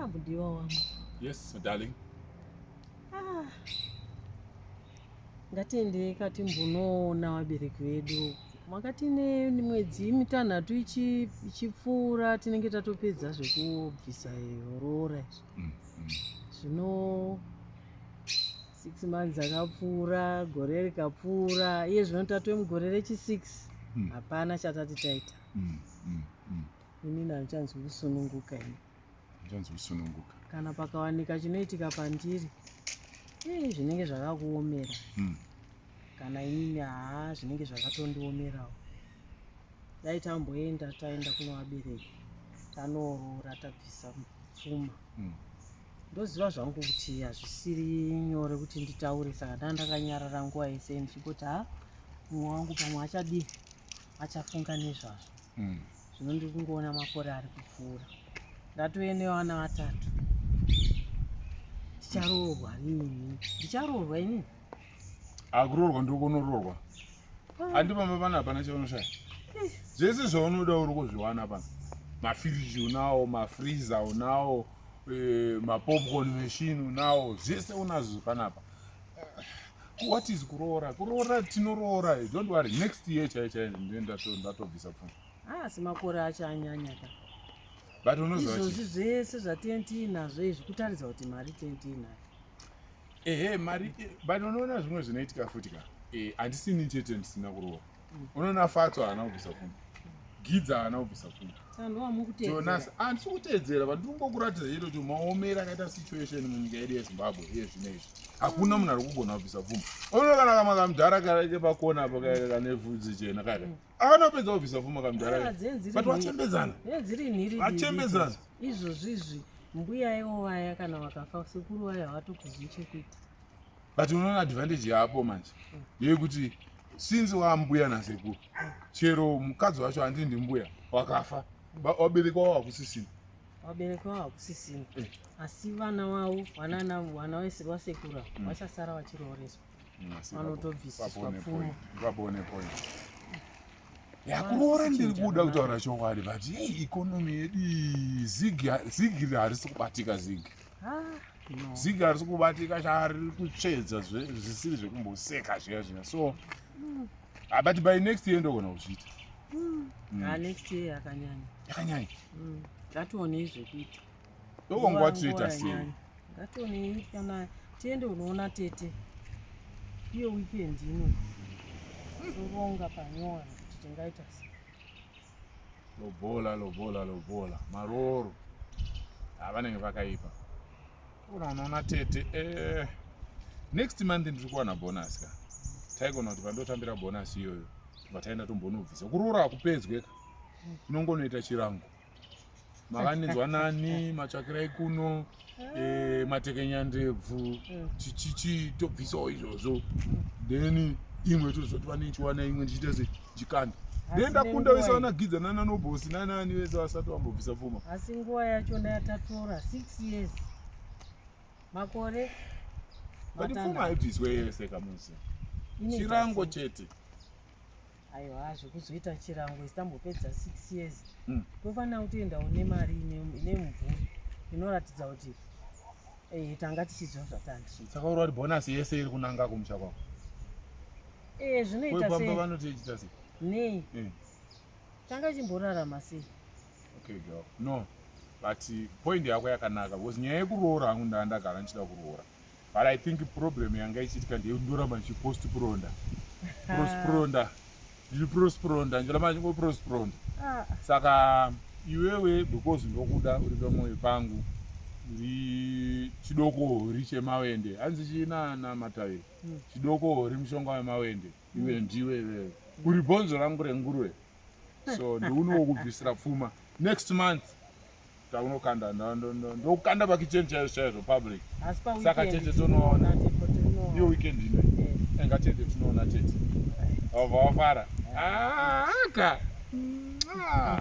Ah, mudiwa wangu. Yes, darling. Ah. Ngatiendei kati mbonoona vabereki vedu. Makati ne mwedzi mitanhatu ichi ichipfuura tinenge tatopedza zvekubvisa roora izvi. Mm, mm. Zvino six months akapfuura, gore rikapfuura, iye zvino tatove mugore rechi six. Mm. Hapana chatati taita. Mm, mm, mm. inini handichanzwi kusununguka ini handichanzwi kusununguka kana pakawanika chinoitika pandiri ii zvinenge zvakakuomera hmm. kana inini haa zvinenge zvakatondiomerawo dai tamboenda taenda kunovabereki tanoorora tabvisa pfuma hmm. ndoziva zvangu kuti hazvisiri nyore kuti nditaure saka ndaa ndakanyarara nguva yese ndichingoti ha mumwe wangu pamwe achadii achafunga nezvazvo mm. zvino ndiri kungoona makore ari kupfuura ndatove nevana vatatu ndicharoorwa nini ndicharoorwa inini akuroorwa ndokonoroorwa handi pamba pana hapana chaunoshaya zvese zvaunoda uri kuzviwana pano mafiriji unawo mafriza unawo eh, mapopcorn machine unawo zvese unazvo panapa what is kuroora kuroora tinoroora don't worry next year chai chai ndatobvisa pfuma haasi ah, makore acho anyanya ka but unozoizvozvi zvese zvatentiinazvo izvi kutaridza kuti mari tentiinayo ehe mari eh, but unoona zvimwe zvinoitika futi ka eh, handisini chete ndisina kuroora unoona fatso haana kubvisa pfuma gidza haana kubvisa pfuma jonas handisi kuteedzera vandiri kungokuratidza chete kuti maomera akaita situation munyika yedu yezimbabwe iye zvino izvi hakuna munhu ari kugona kubvisa pfuma unoona kana kamwe kamudhara kaite pakona apo kaika kane vhudzi chena kaika mm. akanopedza kubvisa pfuma kamudhara but vachembedzana vachembedzana izvozvizvi mbuya ivo vaya kana vakafa sekuru vaya havatokuzivi chekuita but unoona advantage yaapo manje yekuti since waambuya nasekuru chero mukadzi wacho andii ndimbuya wakafa waberekwa wava kusisina waberekwa wava kusisina eh. asi vana wavo vanana vana vese vasekura mm. vachasara vachirooreswa mm, vanotobvisiswa pfumo vabone point yakuroora ndiri kuda kutaura chokwadi but hei ikonomi yedu zigi harisi kubatika zigi ziga risi kubatika chaari kutsvedza zvisiri zvekumboseka zviya zviya so mm. ah, but by next year ndogona kuzviita mm. mm. ah, next year yakanyanya yakanyanya ngationei zvekuita ndokongwatoita sei ngationei kana tiende unoona tete iyo weekend ino toronga panyowani kuti tingaita sei lobola lobola lobola marooro havanenge ah, vakaipa ona unoona tete eh. next month ndiri kuwana bonus ka taigona kuti pandotambira bonus iyoyo tobva taenda tombonobvisa kuroora hakupedzwe ka inongonoita chirango mavanenzwa nani matsvakirai kuno eh, matekenya ndebvu mm. chichichi tobvisawo izvozvo then imwe tozoti vanenchiwana imwe ndichiita se chikanda then ndakunda vese vanagidza nana nobosi nanani vese vasati vambobvisa pfuma asi nguva yacho ndayatatora six years makore but pfuma haibviswe yese kamusi chirango chete aiwa zvekuzoita chirango isitambopedza 6 years mm. tofanira kutoendawo nemari ine mumvuri inoratidza kuti eh, tanga tichiziva zvatandichiisaka uri wati bhonasi yese iri kunanga kumusha kwako eh, zvinoitapamba vanoti ichita sei nei eh. tanga chimborarama sei okay girl no but point yako yakanaka because nyaya yekuroora hangu ndaa ndagara ndichida kuroora but i think problem yanga ichiitika ndeyekuti ndoramba ndichiprostpronda prostpronda ndichiprostpronda ndichiramba ndichingoprostpronda ah. saka iwewe because ndokuda uri pamwoyo pangu uri chidokori chemawende hanzi chiinana mataviri hmm. chidokori mushonga wemawende iwe hmm. ndiwe iwewe hmm. uri bhonzo rangu renguruve so ndiunowo kubvisira pfuma next month taunokanda ndokukanda pakichen chaizvo chaizvo public saka tete tonoona iyo weekend ino enga tete tinoona tete vabva wafara aka ah,